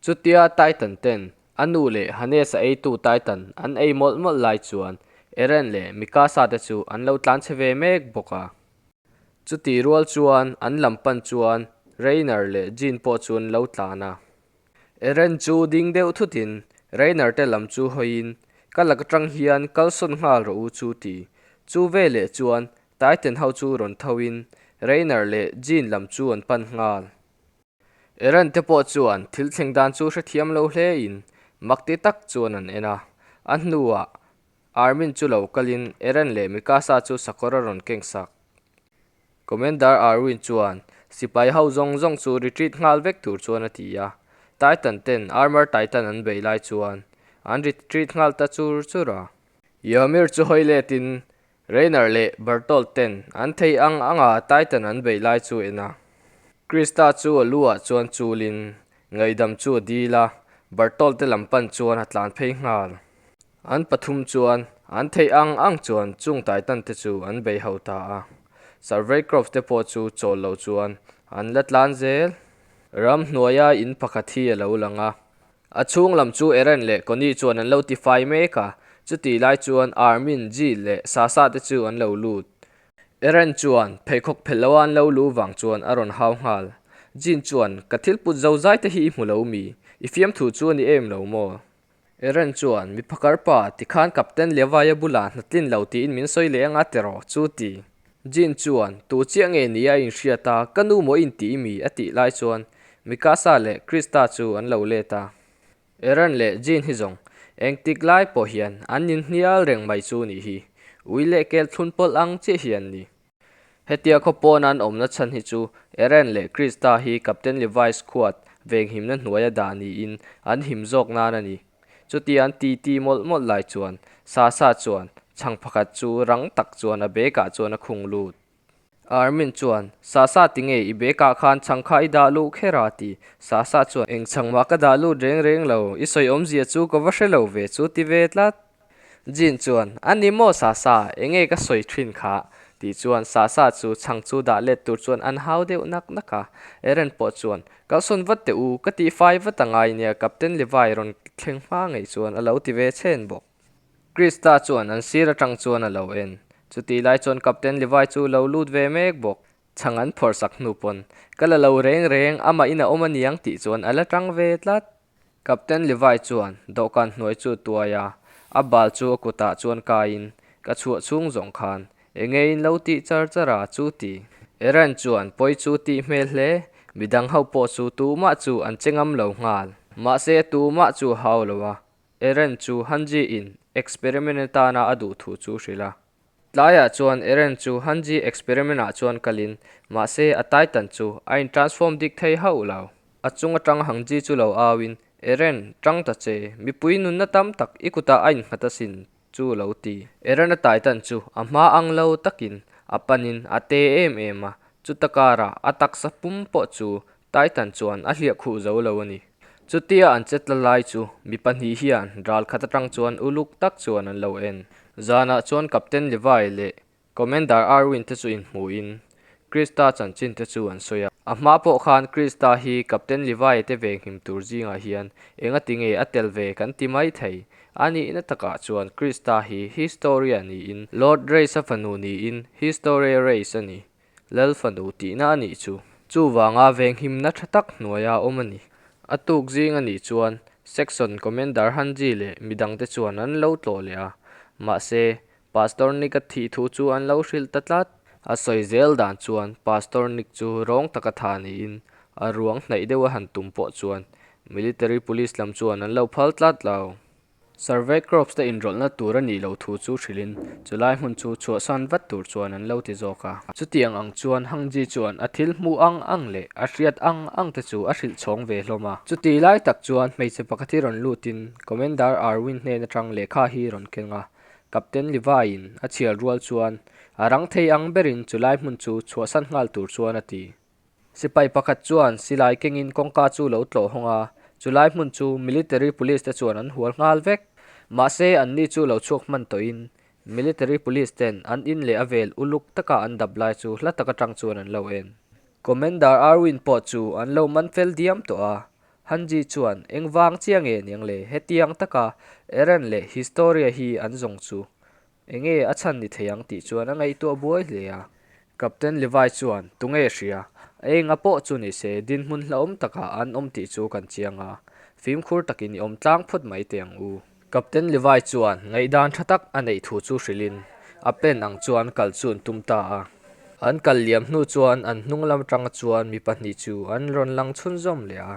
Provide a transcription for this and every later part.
Chutia Titan ten a nu leh Hannes a eitu Titan an ei mawlh mawlh lai chuan Eren leh Mikasa te chu an lo tlan che ve mek bawk a. Chutih rual chuan an lam pan chuan Reiner leh Jean pawh chu an lo tlan a. Eren chu ding deuh thutin Reiner te lam chu hawiin, Ka lak atang hian kal sawn nghal rawh u chu ti. Chu veleh chuan Titan ho chu rawn thoin Reiner leh Jean lam chu an pan nghal. Iran te pawh chuan thil thleng dan chu hrethiam lo hle in mak ti tak chuan an en a, a hnuah Army-n chu lo kal in Iran leh Mikasa chu sakawr a rawn keng sak. Commander Arwin chuan sipai ho zawng zawng chu retreat nghal vek tur chuan a ti a, Titan ten Armor Titan an beih lai chuan an retreat nghal ta chur chur a. Ymir chu hawi let in Rainer leh Bertolt-ten an thei ang anga Titan an beih lai chu en a. Krista chu a lu-ah chuan chulin, ngaihdam chu a dil a, Bertolt-te lam pan chuan a tlan phei nghal. An pathum chuan an thei ang ang chuan chung Titan-te chu an bei ho ta a, Surveycroft-te pawh chu chawl lo chuan an la tlan zel. Ram hnuaia in pakhat hi a lo lang a, A chhung lam chu Eren leh Connie chuan an lo tifai mek a, chuti lai chuan Armin, Jill leh Sasha te chu an lo lut. Eren chuan pheikhawk phelh loa an lo lu vang chuan a rawn hau nghal. Jean chuan, Ka thil put zo zai te hi i hmu lo mi? I fiam thu chu a ni em lo maw? Eren chuan, Miphakar pa, tikhan Captain Levi-a bulah hnatlin lo tiin min sawi leh anga tiraw? chu ti. Jean chuan, Tû chiah nge ni a inhriat a, ka nu maw in tih mi? a tih lai chuan Mikasa leh Krista chu an lo let a. Aaron leh Jean hi zawng engtik lai pawh hian an inhnial reng mai chu nih hi, ui leh kel thlun pawlh ang chiah hi an ni. Hetia khaw pawn an awmna chhan hi chu Aaron leh Krista hi Captain Levi's khuat venghimna hnuaia dah niin an him zawk nan a ni. Chuti an ti ti mawlh mawlh lai chuan Sasa chuan chhang pakhat chu rang tak chuan a bag-ah chuan a khung lut. Armin chuan, Sasa ti nge i bag-ah khan chhang kha i dah luh kher a ti. Sasa chuan, Eng chhang mah ka dah lut reng reng lo, i sawi awmzia chu ka va hre lo ve chu ti ve tlat. Jean chuan, A ni maw Sasa, engei ka sawi thin kha? Tih chuan Sasa chu chhang chu dah let tur chuan an hau deuh nak nak a. Eren pawh chuan, Kalhsawn vat teh u, ka tih fai vat a ngai nia, Captain Levi rawn thleng hma ngei chuan a lo ti ve chhen bawk. Christa chuan an sir atang chuan a lo en. Chutih lai chuan Captain Levi chu lo lut ve mek bawk, chhang an phawrhsak hnu pawn. Ka la lo reng reng, amahin a awm aniang tih chuan a la tang ve tlat. Captain Levi chuan dawhkan hnuai chu tuai a, a bal chu a kutah chuan kaiin ka chhuah chhung zawng khan, E ngeiin lo tih char char a chu ti. Eren chuan pawi chu tih hmel hle, midang ho pawh chu tumah chu an che ngam lo nghal. Mahse tumah chu hau lo a, Eren chu Hanji-in experiment atana a duh thu chu hrilh a. Tlaiah chuan Eren chu Hanji experiment ah chuan kal in, mahse a Titan chu a in transform dik thei hauh lo. A chung atang Hanji chu lo au in, Eren, tang ta che, mipui nunna tam tak i kutah a in nghat a sin chu lo ti. Eren a Titan chu a hma ang lo tak in a pan in a te em em a, chuta kar ah a taksa pum pawh chu Titan chuan a hliah khuh zo lo a ni. Chutia an chetla lai chu mi pahnih hian ral khat atang chuan uluk tak chuan an lo en. Zanah chuan Captain Levi leh Commander Irwin te chu inhmuhin Krista chanchin te chu an sawi a. A hma pawh khan Krista hi Captain Levi te ve nghim tur zingah hian engatinge a tel ve kan ti mai thei. A nihna takah chuan Krista hi Historia niin Lord Race-a fanu niin History Race a ni. Lalfanu tihna a nih chu. Chuvanga venghimna tha tak hnuaia awm a ni. A tuk zing a nih chuan Section Commander Han Ji leh mi dangte chuan an lo tlawh leh a. Mahse, Pastor Nika thih thu chu an lo hrilh ta tlat. A sawi zel dan chuan Pastor Nik chu rawng taka tha niin a ruang hnaih deuha han tum pawh chuan Military Police lam chuan an lo phal tlat lo. Survey crops te inrawlhna tur a nih loh thu chu hrilhin chu lai hmun chu chhuahsan vat tur chuan an lo ti zawk a. Chutiang ang chuan Hangji chuan a thil hmu ang ang leh a hriat ang ang te chu a hrilh chhawng ve hlawm a. Chuti lai tak chuan hmeichhe pakhat hi rawn lut in Commander Arwin hnen atang lehkha hi rawn keng a. Captain Levi-in a chhial rual chuan, A rang thei ang berin chu lai hmun chu chhuahsan nghal tur chuan a ti. Sipai pakhat chuan silai kengin kawngka chu lo tlawh hawng a, chulai hmun chu Military Police te chuan an hual nghal vek. Mahse anni chu lo chhuak hman tawhin Military Police ten an in leh a vel uluk taka an dap lai chu hla tak atang chuan an lo en. Commander Arwin pawh chu an lo man fel diam tawh a, Han Ji chuan, Eng vang chiang e niang le, hetiang taka Eren leh Historia hi an zawng chu. Enge a chhan ni thei ang tih chuan a ngaihtuah buai hle a. Captain Levi chuan, Tunge hria, a enga pawh chu ni se, dinhmun hlauhawm takah an awm tih chu kan chiang a, fimkhur takin i awm tlang phawt mai teh ang u. Captain Levi chuan ngaihdan tha tak a neih thu chu hrilhin a pen ang chuan kal chu an tum ta a. An kal liam hnu chuan an hnunglam atanga chuan mi pahnih chu an rawn lang chhun zawm leh a.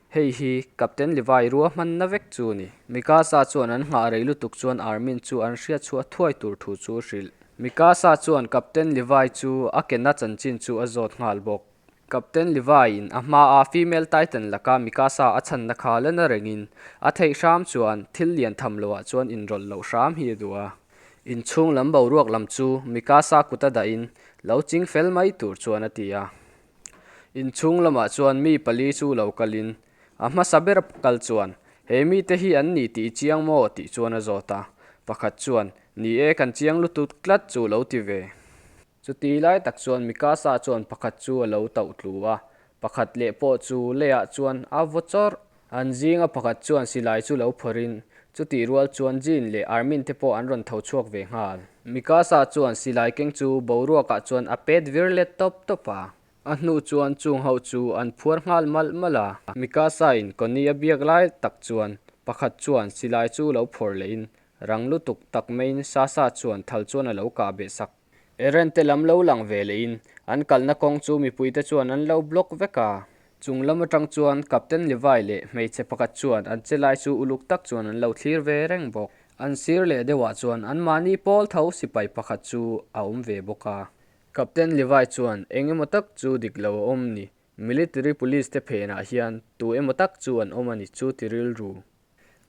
Hei hi Captain Levi rua hman na vek chu ni. Mikasa chuan an nghah rei lutuk chuan Armin chu an hriatchhuah thuai tur thu chu hrilh. Mikasa chuan Captain Levi chu a ke na chanchin chu a zawt nghal bawk. Captain Levi in a hma a Female Titan laka Mikasa a chhan na kha la na rengin a theih hram chuan thil lian tham lo ah chuan in rawlh loh hram hi a duh a. In chhung lam boruak lam chu Mikasa kut a dah in lo ching fel mai tur chuan a ti a. Inchhung lamah chuan mi pali chu lo kalin a hmasa ber kal chuan, He mite hi an ni tih i chiang maw? tih chuan a zawt a. Pakhat chuan, Ni e, kan chiang lutut tlat chu lo ti ve. Chuti lai tak chuan mi kasa chuan pakhat chu a lo tauhtlu a, pakhat leh pawh chu leiah chuan a vaw chawrh An zinga pakhat chuan silai chu lo phawrin, chutih rual chuan Jean leh Armin te pawh an rawn tho chhuak ve nghal. Mikasa chuan silai keng chu boruakah chuan a pet vir let tawp tawp a, a hnu chuan chung ho chu an phuar nghal malh malh a. Mikasa-in Connie a biak lai tak chuan pakhat chuan silai chu lo phawr lehin rang lutuk tak maiin Sasa chuan thal chuan a lo kah beh sak. Erente lam lo lang ve leh in an kalna kawng chu mipui te chuan an lo block vek a. Chung lam atang chuan Captain Levi leh hmeichhe pakhat chuan an che lai chu uluk tak chuan an lo thlir ve reng bawk. An sir leh deuh ah chuan an mahni pawl tho sipai pakhat chu a awm ve bawk a. Captain Levi chuan eng emaw tak chu dik lo a awm ni, military police te phen ah hian tu emaw tak chu an awm a ni chu ti rilru.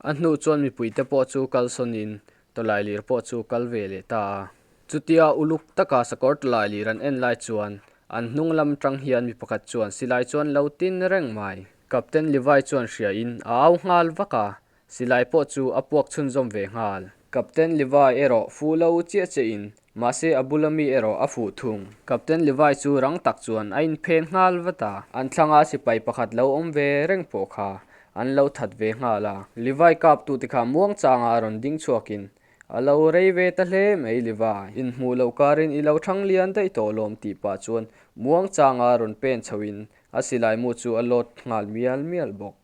A hnu chuan mipui te pawh chu kal sawn in Tawlai Lir pawh chu kal ve leh ta a. Chutia uluk taka sakawr Tawlai Lir an en lai chuan an hnung lam tang hian mi pakhat chuan silai chuan lo tin reng mai. Captain Livai chuan hria in a au nghal vak a, silai pawh chu a puak chhunzawm ve nghal. Captain Levi erawh fu lo chiah chiah in, mahse a bula mi erawh a fuh thung. Captain Levi chu rang tak chuan a inphen nghal vat a. An thlanga sipai pakhat lo awm ve reng pawh kha an lo that ve nghal a. Levi kap tu te kha muang changah a rawn ding chhuak in, A lo rei ve ta hle mai Levi, in hmuh loh kar in i lo thang lian daih tawh lawm tih pah chuan muang changah a rawn pen chho in a silai mu chu a lawt nghal mial mial bawk.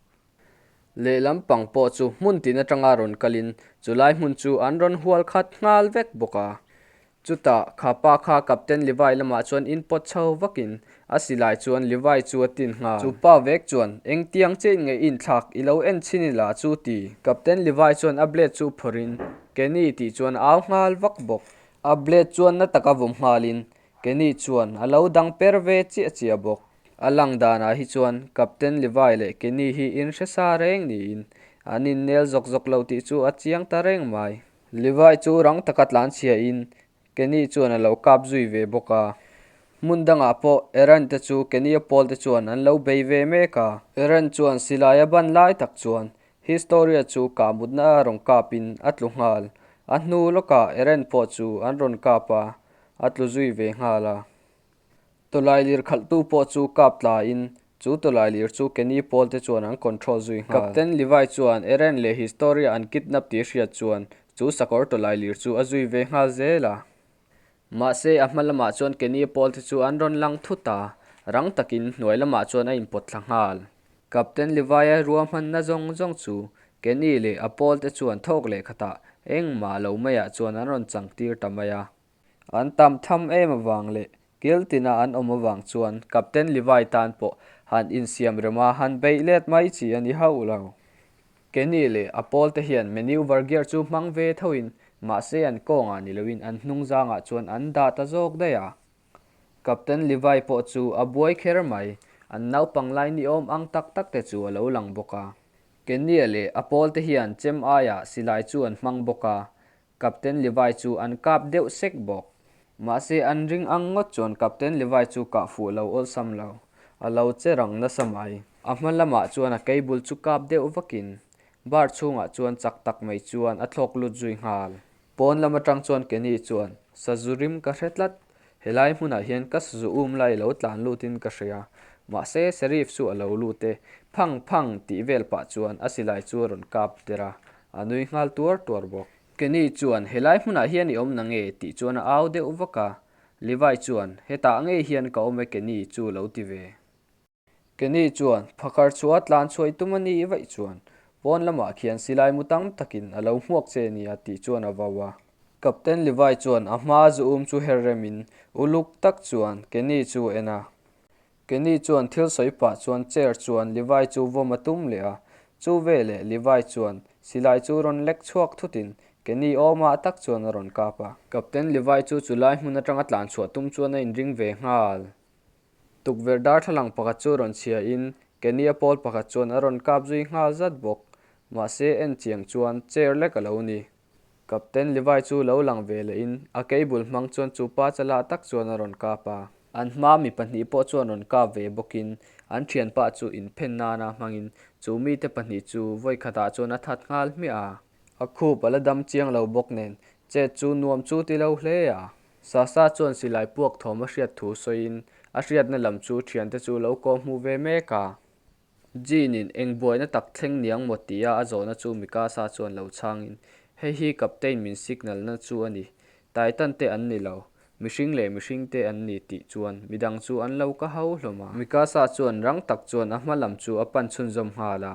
Lehlam pang pawh chu hmun tin atanga rawn kal in chu lai hmun chu an rawn hual khat nghal vek bawk a. Chutah kha pa kha Captain Livai lamah chuan in pawt chho vak in a si lai chuan Livai chu a tin nghal. Chu pa vek chuan eng tiang che in ngaih in thlak i lo en chin ila chu ti. Captain Livai chuan a blade chu phawrh in, Kenny tih chuan a au nghal vak bawk. A blade chuan na taka vawm nghal in Kenny chuan a lo dang per ve chiah chiah bawk. A lang danah hi chuan Captain Levi leh Kenny hi in hre sa reng niin an in nel zawk zawk lo tih chu a chiang ta reng mai. Levi chu rang taka tlan chhia in Kenny chuan a lo kap zui ve bawk a. Hmun dangah pawh Aaron te chu Kenny a pawl te chuan an lo bei ve mek a. Aaron chuan silai a ban lai tak chuan Historia chu kah mut na a rawn kap in a tlu nghal. A hnu lawkah Aaron pawh chu an rawn kap a. A tlu zui ve nghal a. Tawlai lir khalhtu pawh chu kap tla in chu tawlai lir chu Kenny pawl te chuan an control zui nghal. Captain Levi chuan Eren leh Historia an kidnap tih a hriat chuan chu sakawr tawlai lir chu a zui ve nghal zel a. Mahse, a hma lamah chuan Kenny pawl te chu an rawn lang thut a, rang takin hnuai lamah chuan a inpawt thla nghal. Captain Levi-a rua hmanna zawng zawng chu Kenny leh a pawlte chuan thawk leh khatah engmah lo maiah chuan an rawn changtir ta mai a. An tam tham em avang leh kil tina an awm avang chuan Captain Levi tan pawh han insiam rem a, han beih let mai chi a ni hauh lo. Kenny leh a pawlte hian menu var gear chu hmang ve thoin mahse an kawngah ni loin an hnungzangah chuan an dah ta zawk daih a. Captain Levi pawh chu a buai kher mai. An naupang lai niawm ang tak tak te chu a lo lang bawk a. Kenia leh a pawl te hian chem aiah silai chu an hmang bawk a, Captain Levi chu an kap deuh sek bawk. Mahse an ring ang ngawt chuan Captain Levi chu kah fuh lo awlsam lo, a lo che rang nasa mai. A hma lamah chuan a cable chu kap deuh vakin bar chhungah chuan chak tak mai chuan a thlawk lut zui nghal. Pawn lam atang chuan Kenny chuan, Sazurim ka hre tlat, helai hmunah hian ka sazu um lai lo tlan lutin ka hre a, mahse Sheriff chu a lo lut e, phang phang tih vel pah chuan a silai chu a rawn kap der a, a nui nghal tuar tuar bawk. Kenny chuan, Helai hmunah hian i awm na nge? tih chuan a au deuh vak a, Levi chuan, Hetah ngei hian ka awm e Kenny chu lo ti ve. Ke ni chuan phakhar chhuah tlan chhuai tum a ni vaih chuan pawn lamah khian silai mu tam takin a lo hmuak che nia tih chuan a vau a. Captain Livai chuan a hma zu um chu her rem in uluk tak chuan ke ni chu en a. Ke ni chuan thil sawi pah chuan chair chuan Livai chu vawm a tum leh a. Chu ve leh Livai chuan silai chu rawn lek chhuak thut in ke ni awm ah tak chuan a rawn kap a. Captain Livai chu chu lai hmun atang a tlan chhuah tum chuan a in ring ve nghal. Tukverh darthlalang pakhat chu rawn chhia in Kenny a pawl pakhat chuan a rawn kap zui nghal zat bawk. Mahse en chiang chuan chair lek a lo ni. Captain Levi chu lo lang ve leh in a kei bul hmang chuan chu pa cha la tak chuan a rawn kap a. An hma mi pahnih pawh chuan rawn kap ve bawk in an thian pa chu in phen nan a hmang in chu mi te pahnih chu vawi khat ah chuan a that nghal hmiah a. A khup a la dam chiang lo bawk nen chet chu nuam chu ti lo hle a. Sasa chuan silai puak thawm a hriat thu sawiin a hriatna lam chu thiante chu lo kawm hmu ve mek a. Jean-in eng buaina tak thleng niang maw tia a zawhna chu Mikasa chuan lo chhangin, Hei hi Captain min signalna chu a ni. Titan te an ni lo, mihring leh mihring te an ni tih chuan midang chu an lo ka hau hlawm a. Mikasa chuan rang tak chuan a hma lam chu a pan chhunzawm nghal a.